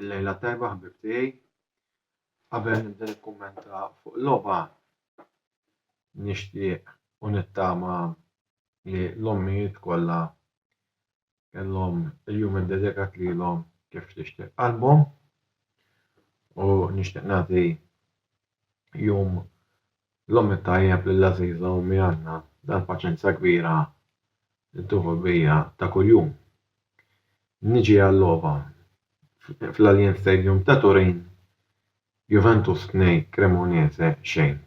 Il-lejla tajba ħbib tiegħi. Qabel nibda nikkummenta fuq logħba nixtieq u nittama li l-ommijiet kollha kellhom il-jum iddedikat lilhom kif tixtieq qalbhom u nixtieq nagħti jum l-omm it-tajjeb lill-għażiża ommi Anna dal-paċenza kbira li tuħu bija ta' kuljum. Niġi għal-logħba fl-Allianz Stadium ta' Turin Juventus 2 Cremonese xejn.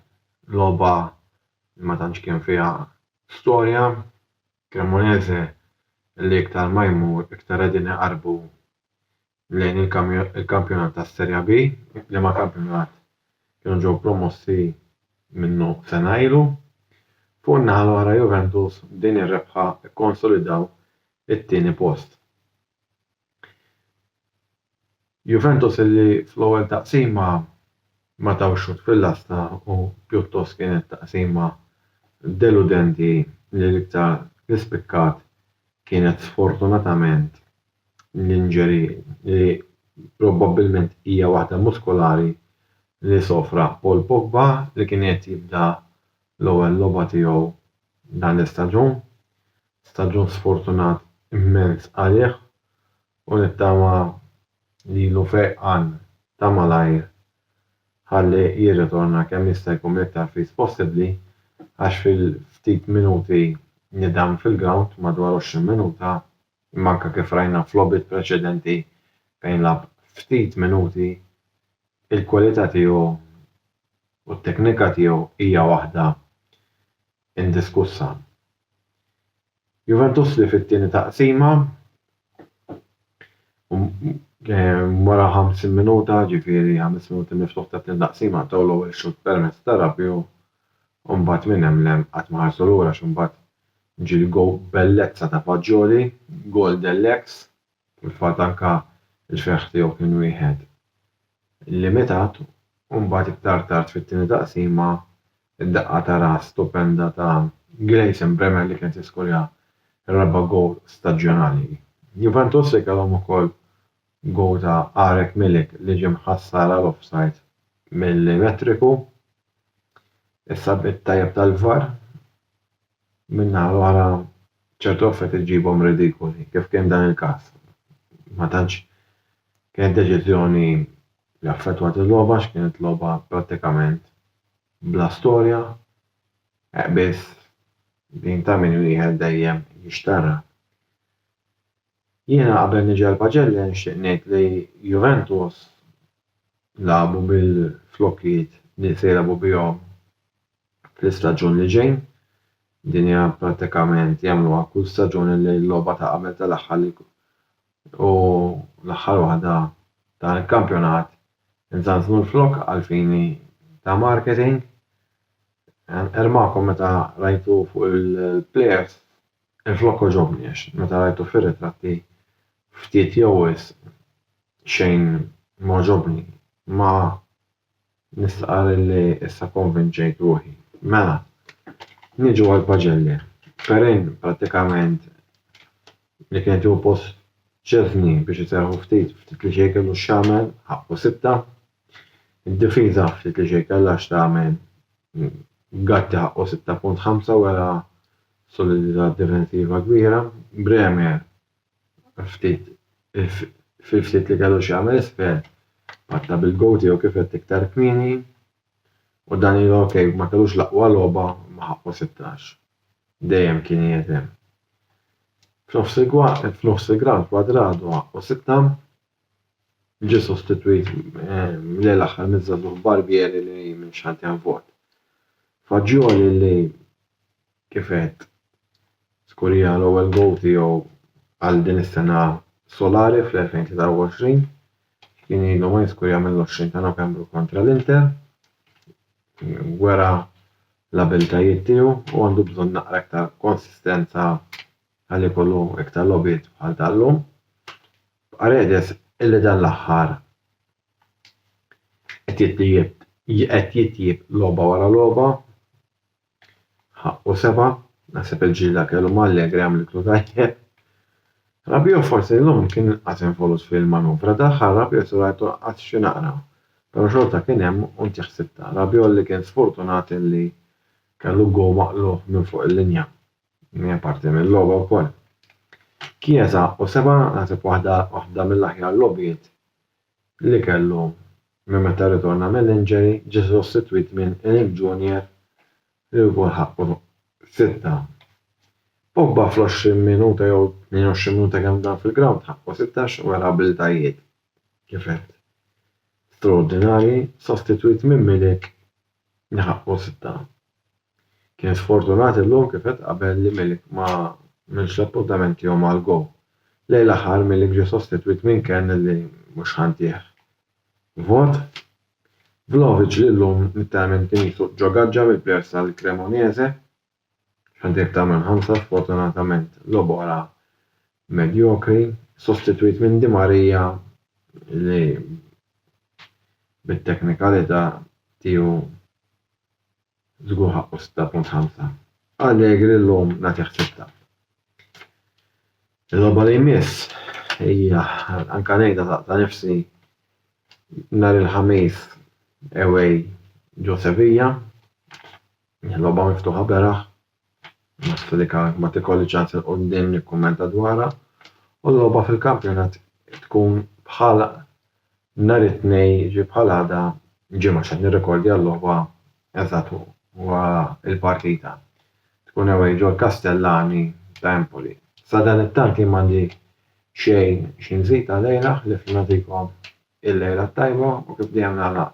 Logħba li ma tantx kien fiha storja Cremonese li iktar ma jmur iktar qegħdin iqarrbu lejn il-kampjonat tas-Seria B, liema kampjonat kienu ġew promossi minnu sena ilu. Fuq in-naħa l-oħra Juventus b'din ir-rebħa kkonsolidaw it-tieni post. Juventus li fl-ewwel taqsima ma taw xutt fil-lasta u pjuttost kienet taqsima deludenti li l-iktar li spikkat kienet sfortunatament l-injury li probbabbilment hija waħda muskolari li sofra Paul Pogba li kien qed jibda l-ewwel logħba tiegħu dan l-istaġun Staġun sfortunat immens għalih u nittama li ilu fejqan ta' malajr ħalli jirritorna kemm jista' jkun iktar fis possibbli għax fil-ftit minuti li dam fil-grawnd, madwar 20 minuta, imma anke kif rajna f'logħbiet preċedenti fejn lagħab ftit minuti, il-kwalità tiegħu u t-teknika tiegħu hija waħda indiskussa. Juventus li fit-tieni taqsima wara 50 minuta, ġifieri ħames minuti miftuħ tat-tieni taqsima, taw l-ewwel xutt permezz ta' Rabiot u mbagħad minn hemm 'l hemm qatt ma ħarsu lura għax imbagħad ġie l-gowl bellezza ta' Fagioli, gowl dell-eks Fil-fatt anke l-ferħ tiegħu kien wieħed limitat u mbagħad iktar tard fit-tieni taqsima d-daqqa ta' ras stupenda ta' Gleison Bremer li kienet jiskorja r-raba' gowl staġjonali. Juventus li kellhom ukoll gowl ta' Arek Milik li ġie mħassar għal offside mill-elettriku. Is-sabiet tajjeb tal-VAR min-naħa l-oħra ċertu affarijiet iġġibhom ridikoli, kif kien dan il-każ. Ma tantx kienet deċiżjoni li affettwat il-logħba għax kienet logħba prattikament bla storja, heq biss din ta' min wieħed dejjem jixtarrak. Jiena qabel niġi għal Pacelli nixtieq ngħid li Juventus lagħbu bil-flokkijiet li se jilagħbu bihom fl-istaġun li ġej. Din hija prattikament jagħmluha kull staġun illi l-logħba ta' qabel tal-aħħar li u l-aħħar waħda dan il-kampjonat inżażnu l-flokk għall-fini ta' marketing. Ermakom meta rajtu fuq il-plejers il-flokk għoġobni għax meta rajtu fir-ritratti ftit jew wisq xejn m'għoġobni. Ma Nistqarr illi issa konvinċejt ruħi. Mela, niġu għall-paġelli. Perrin, prattikament, li kienet tieħu post Szczesny biex iserrħu ftit, ftit li xejn kellu x'jagħmel, ħaqqu sitta. Id-difiża ftit li xejn kellha x'tagħmel, Gatti ħaqqu sitta punt ħamsa wera solidità difensiva kbira, Bremer ftit fil-ftit li kellu x'jagħmel isfel patta bil-goat tiegħu kif għedt iktar kmieni u dan ilu ok ma kellux l-aqwa logħba imma ħaqqu 16. Dejjem kien qiegħed hemm. F'nofs f'nofs il-ground Cuadrado ħaqqu sitta ġie sostitwit mill-lejl aħħar miż-żagħżugħ Barbieri li minn xantjan vot. Fagioli li kif għedt, żgur hija l-ewwel gowl tiegħu għal din is-sena solari fl-2023. Kien ilu ma jiskurja mill-20 ta' Novembru kontra l-Inter. Wera l-abiltajiet tiegħu u għandu bżonn naqra iktar konsistenza għal ikollu iktar logħbiet bħal tal-lum. Paredes illi dan l-aħħar qed jitjieb logħba wara logħba Ħaqqu seba', naħseb il-ġlieda kellu ma' Allegri għamlitlu tajjeb. Rabiot forsi llum kien inqas involut fil-manuvra, daħħal Rabiot u rajtu lanqas xi naqra, però xorta kien hemm u ntih ħsibtha. Rabiot li kien sfortunat li kellu goal maqlugħ minn fuq il-linja. Hija parti mil-logħba wkoll. Chiesa ħaqqu seba', naħseb waħda waħda mill-aħjar logħbiet li kellu minn meta rritorna mill-injury, ġie sostitwit minn Eric Junior li wkoll ħaqqu sitta. Pogba fl-20 minuta jew 28 minuta kemm dam fil-grawnd ħaqqu sittax u wera abilitajiet kif għedt straordinarji, sostitwit minn Milik li ħaqqu sitta. Kien sfortunat illum kif għedt qabel li Milik ma għamilx l-appuntament tiegħu mal-Go. Lejn l-aħħar Milik ġie sostitwit minn Kern li mhux ħa ntieh vot. Vlahovic li llum literalment kien jisuq ġo gaġġa mill-plejers tal-Cremonese x'għandu iktar minn ħamsa sfortunatament logħob oħra medjokri sostitwit minn Di Maria li bit-teknikalità tiegħu Żgur ħaqqu 6.5. Allegri llum nagħtih sitta. Il-logħba li jmiss hija anke ngħidha ta' nifsi nhar il-Ħamis away ġo Sevilla. Logħba miftuħa beraħ. Naħseb li kienet ma tikolliġ għad 'il quddiem nikkummenta dwarha u l-logħba fil-kampjonat tkun bħal nhar it-Tnejn jiġifieri bħal għada Ġimgħa x'qed nirrekordja l-logħba eżatt wara l-partita. Tkun away ġol-Kastellani ta' Empoli. Sadanittant jien m'għandi xejn xi nżid għalejha ħlief li nagħtikom Il-lejla t-tajba u kif dejjem nagħlaq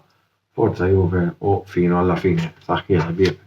Forza Juve u Fino alla fine. Saħħ il ħbieb.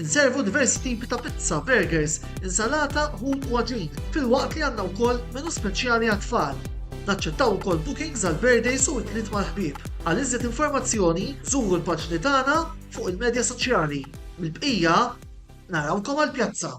Inservu diversi tipi ta' pizza, burgers, insalata, ħut u għaġin, filwaqt li għandna wkoll menu speċjali għat-tfal. Naċċettaw ukoll bookings għal birthdays u ikliet mal-ħbieb. Għal iżjed informazzjoni, żuru l-paġni tagħna fuq il-medja soċjali. Mill-bqija, narawkom għall-pjazza!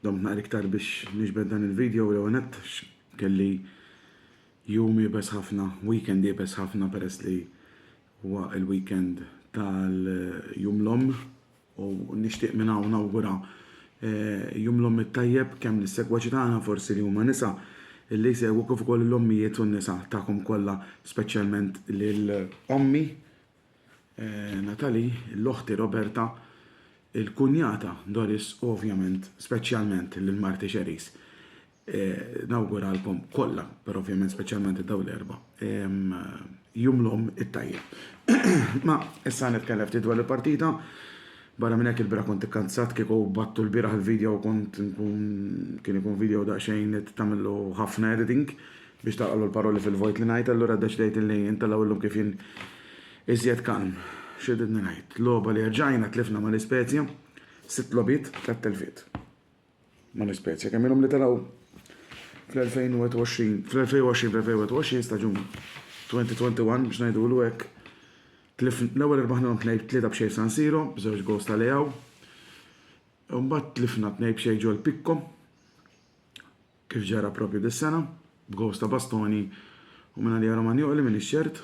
Domt naqra iktar biex niġbed dan il-video, l-ewwel nett kelli jum iebes ħafna, weekend iebes ħafna peress li huwa l-weekend tal-Jum l-Omm u nixtieq minn hawn nawgura Jum l-Omm it-tajjeb kemm lis-segwaċi tagħna forsi li huma nisa li jsegwu kif ukoll lill-ommijiet u n-nisa tagħkom kollha speċjalment lil ommi Natalie, l-oħti Roberta, il-kunjata Doris u ovvjament speċjalment lil marti Cherise. Nawguralkom kollha, però ovvjament speċjalment lil dawn l-erbgħa, Jum l-Omm it-tajjeb. Ma issa nitkellem ftit dwar il-partita. Barra minn hekk ilbieraħ kont ikkanzat, kieku batttu lbieraħ il-video kont inkun kien ikun video daqsxejn li trid tagħmillu ħafna editing. Biex tagħqlu l-paroli fil-vojt li ngħid, allura ddeċidejt illi intelgħu illum kif jien iżjed kalm. X'riditni ngħid? Logħba li erġajna tlifna ma' L-Ispezja, sitt logħbiet, tliet telfiet ma' L-Ispezja. Kemm ilhom li telgħu fl-2021, fl-2020, fl-2021 staġun 2021 biex ngħidulu hekk, l-ewwel irbaħnilhom tnejn tlieta b'xejn f'San Siro, b'żewġ goals ta' Leao. Imbagħad tlifna tnejn b'xejn ġol Picco. kif ġara proprju dis-sena, b'gowls ta' Bastoni u mingħalija Romagnoli m'iniex ċert.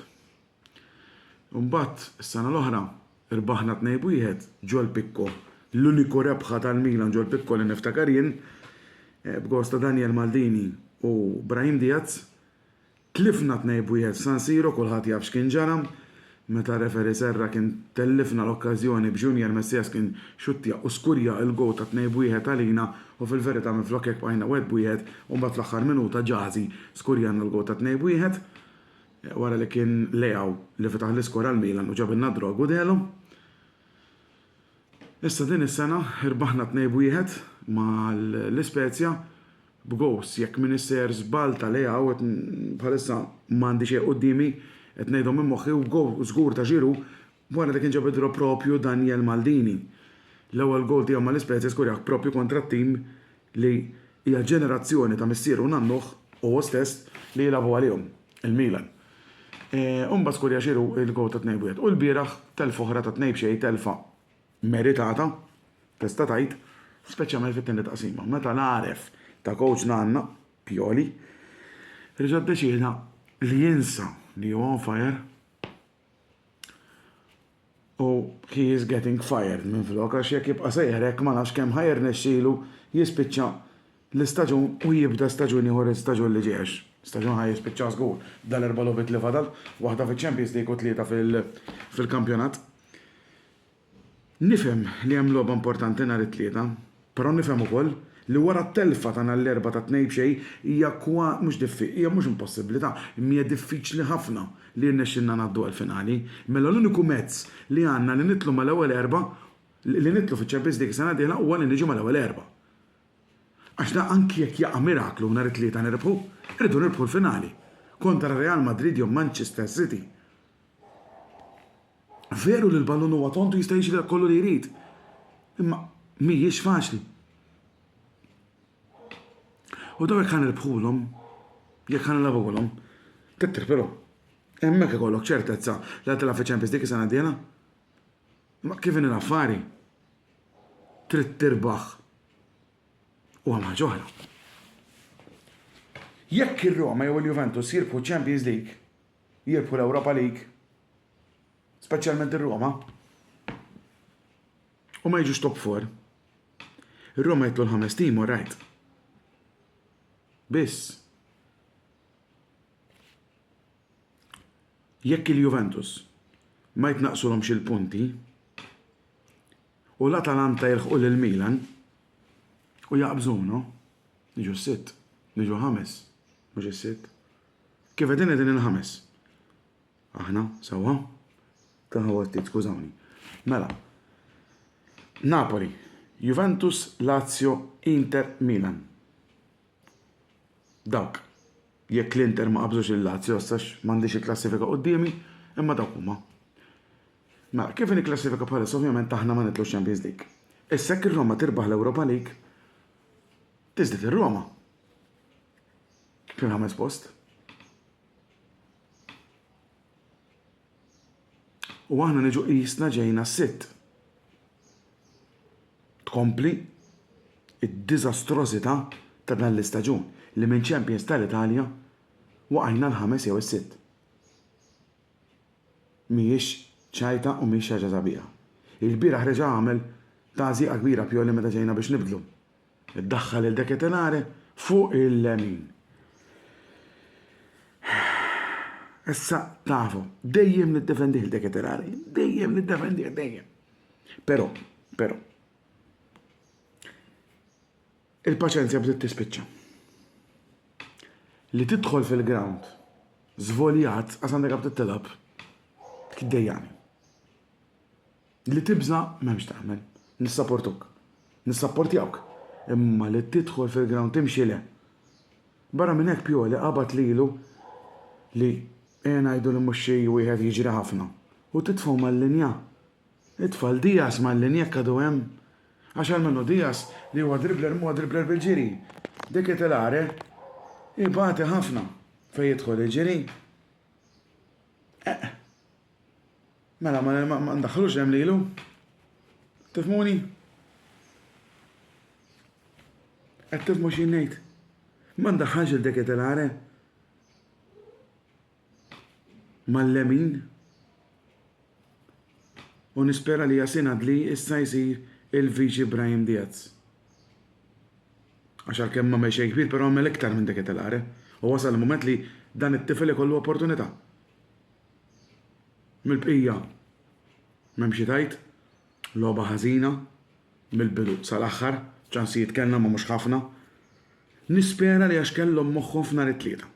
U mbagħad, is-sena l-oħra, rbaħna tnejn b'wieħed ġol Picco, l-uniku rebħa tal-Milan ġol Picco li niftakar jien, b'gowls ta' Daniel Maldini u Brahim Diaz, Tlifna tnejn b'wieħed f'San Siro kulħadd jaf x'kien ġara. Meta r-referee serra kien tellifna l-okkażjoni b'Junior Messias kien xuttja u skurja il-goal ta' tnejn b'wieħed għalina u fil-verità minflok hekk bqajna wieħed b'wieħed u mbagħad fl-aħħar minuta Jazi skurjalna l-goal ta' tnejn b'wieħed wara li kien Leao li fetaħ l-iskor għal Milan u ġabilna d-draw Gudelo. Issa din is-sena rbaħna tnejn b'wieħed mal-Spezia b'gowst jekk minn isseher żball ta' Leao qed bħalissa m'għandi xejn quddiemi qed ngħidhom minn moħħi u gowl żgur ta' Giroud wara li kien ġab id-draw proprju Daniel Maldini. L-ewwel gowl tiegħu mal-Ispezia skurjah proprju kontra t-tim li hija ġenerazzjoni ta' missieru u nannuh u hu stess li jilagħbu għalihom, il-Milan. U mbagħad skurja Giroud il-gowl tat-tnejn b'wieħed. U lbieraħ telfa oħra tat-tnejn b'xejn telfa. meritata, tista' tgħid, speċjalment fit-tieni taqsima, meta l-għaref ta' kowċ Nanna, Pioli, reġa' ddeċieda li jinsa li hu on fire u he is getting fired minflok għax jekk jibqa' sejjer hekk ma nafx kemm ħa jirnexxilu jispiċċa l-istaġun u jibda staġun ieħor l-istaġun li ġej għax staġun ħa jispiċċa żgur dal-erba' logħbiet li fadal, waħda fiċ-Champions League u tlieta fil-kampjonat. Nifhem li hemm logħba importanti nhar it-Tlieta, però nifhem ukoll li wara t-telfa ta' nhar l-Erbgħa ta' tnejn b'xejn hija kwa, mhux diffi, hija mhux impossibbli, ta', imma hija diffiċli ħafna li jirnexxilna ngħaddu għall-finali. Mela l-uniku mezz li għandna li nidħlu mal-ewwel erbgħa, li nidħlu fiċ-Champions League is-sena d-dieħla huwa li niġu mal-ewwel erbgħa. Għax da anki jekk jaqa' miraklu nhar it-Tlieta nirbħu, irridu nirbħu l-finali. Kontra Real Madrid jew Manchester City. Veru li l-ballun huwa tond u jista' jiġri dak kollu li jrid, imma mhijiex faċli. U daw jekk ħanirbħulhom, jekk ħanilgħbuhulhom, tittir però. Hemmhekk ikollok ċertezza li ħad tilgħab fiċ-Champions League is-sena d-dieħla. Ma kif inhi l-affari? Trid tirbaħ u hemm ħaġa oħra. Jekk ir-Roma jew il-Juventus jirbħu Champions League, jirbħu l-Europa League, speċjalment ir-Roma, u ma jiġux top 4. Ir-Roma jitlu l-ħames tim, u rajt. Biss. Jekk il-Juventus ma jitnaqsulhomx il-punti u l-Atalanta jilħqu lil Milan u jaqbżunu, jiġu s-sitt, jiġu ħames, mhux is-sitt. Kif qegħdin qegħdin il-ħames. Aħna, sewwa? Tagħha għottiet, skużawni. Mela. Napoli, Juventus, Lazio, Inter, Milan. Dawk. Jekk l-Inter ma qabżux lil Lazio għax m'għandix il-klassifika quddiemi, imma dawk huma. Mela, kif inhi klassifika bħalissa ovvjament aħna ma nitlux Champions League. Issa jekk ir-Roma tirbaħ l-Europa League, tiżdied ir-Roma fil-ħames post. U aħna niġu qisna ġejna sitt. Tkompli d-diżastrożità ta' dan l-istaġun li minn champions tal-Italja waqajna l-ħames jew is-sitt. Mhijiex ċajta u mhijiex xi ħaġa sabiħa. Ilbieraħ reġa' għamel tagħżiqa kbira Pioli meta ġejna biex nibdlu. Iddaħħal il-De Ketelare fuq il-lemin. Issa tafu, dejjem niddefendih il-De Ketelare, dejjem niddefendih, dejjem. Però, però, il-paċenzja bdiet tispiċċa. Li tidħol fil-ground, zvoljat, għasandek għab t-tilab, kdejjani. Li tibża' m'hemm x'tagħmel. Nissaportuk. Nissapportjawk. Imma li tidħol fil-ground timxi le. Barra minn hekk Pioli qabad lilu li ejja ngħidu li mhux xi wieħed jiġri ħafna u titfgħu mal-linja. It-tfal Diaz mal-linja jekk għadu hemm. Għax almenu Diaz li huwa dribbler m'huwa dribbler bil-ġiri. De Ketelare ibati ħafna fejn jidħol iġri. Eqq. Mela, ma, ma, ma ndaħħlux hemm lilu. Tifmuni? Qed tifmu xi ngħid? Ma ndaħħalx il deketelare mal-lemin u nispera li Jasin Adli issa jsir il-Viċi Brahim Diaz. Għax għalkemm ma mexej kbir, però għamel iktar minn deketelare. U wasal il-mument li dan it-tifel ikollu opportunità. Mill-bqija m'hemm xi tgħid. Logħba ħażina mill-bidu sal-aħħar. Ċansijiet kellna ma mhux ħafna. Nispera li għax kellhom moħħhom f'Nhar it-Tlieta.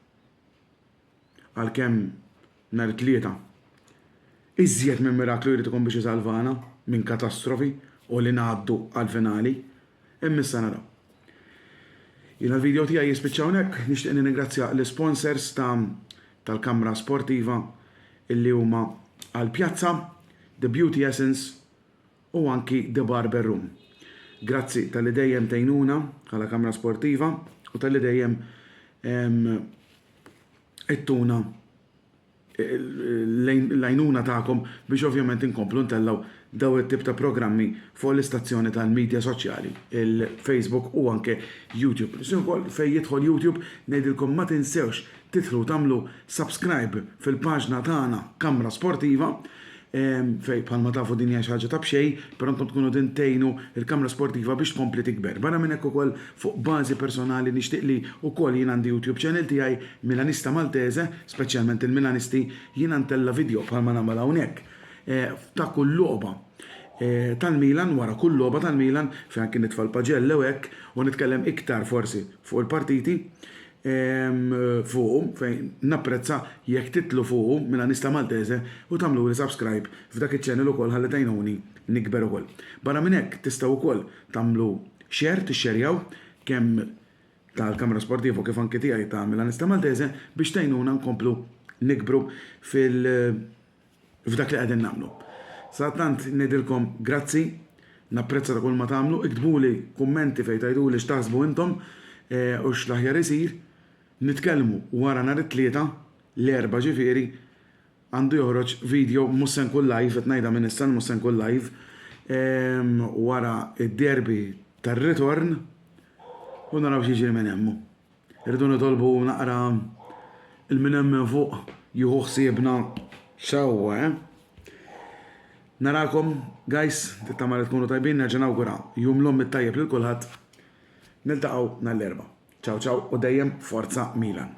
Għalkemm Nhar it-Tlieta iżjed minn miraklu jrid ikun biex isalvana minn katastrofi u li ngħaddu għall-finali. Hemm issa nagħlaq. Jiena l-video tiegħi jispiċċa hawnhekk, nixtieq nirringrazzja l-isponsors ta' tal-kamra sportiva illi huma Al Piazza, The Beauty Essence u anki The Barber Room. Grazzi talli dejjem tgħinuna bħala kamra sportiva u talli dejjem ittuna l-għajnuna tagħkom biex ovvjament inkomplu ntellgħu dawn it-tip ta' programmi fuq l-istazzjoni tal-midja soċjali, il-Facebook u anke YouTube. Nixtieq ukoll fejn jidħol YouTube ngħidilkom ma tinsewx tidħlu tagħmlu subscribe fil-paġna tagħna Kamra Sportiva fejn bħalma tafu din hija xi ħaġa ta' b'xejn, però intom tkunu qegħdin tgħinu l-kamra sportiva biex tkompli tikber. Barra minn hekk ukoll fuq bażi personali nixtieq li wkoll jien għandi YouTube channel tiegħi, Milanista Maltese, speċjalment il-Milanisti, jiena ntella' vidjo bħalma nagħmel hawnhekk ta' kull logħba tal-Milan, wara kull logħba tal-Milan, fejn anki nitfa' l-paġelle u hekk u nitkellem iktar forsi fuq il-partiti. fuqhom fejn napprezza jekk titlu fuqhom minn Anista Maltese u tagħmluli subscribe f'dak iċ-channel ukoll ħalli tgħinuni nikber ukoll. Barra minn hekk tistgħu ukoll tagħmlu share tixxerjaw kemm tal-Camera Sportivo kif anki tiegħi ta' mill-Anista Maltese biex tgħinuna nkomplu nikbru fil f'dak li qegħdin nagħmlu. Sadattant ngħidilkom grazzi, napprezza ta' kulma tagħmlu, iktbuli kummenti fejn tgħiduli x'taħsbu intom u x'l-aħjar isir. Nitkellmu wara nhar it-Tlieta, l-Erbgħa ġifieri, għandu joħroġ video, mhux se nkun live, qed ngħidha minn issa li mhux se nkun live, wara d-derby tar-ritorn u naraw x'jiġri minn hemm. Irridu nitolbu naqra il-min hemm minn fuq jieħu ħsiebna sewwa, eh? Narakom, guys, tittama li tkunu tajbin, nerġa' nawgura jum l-omm it-tajjeb lil kulħadd. Niltaqgħu nhar l-Erbgħa. Ciao ciao u dejjem Forza Milan.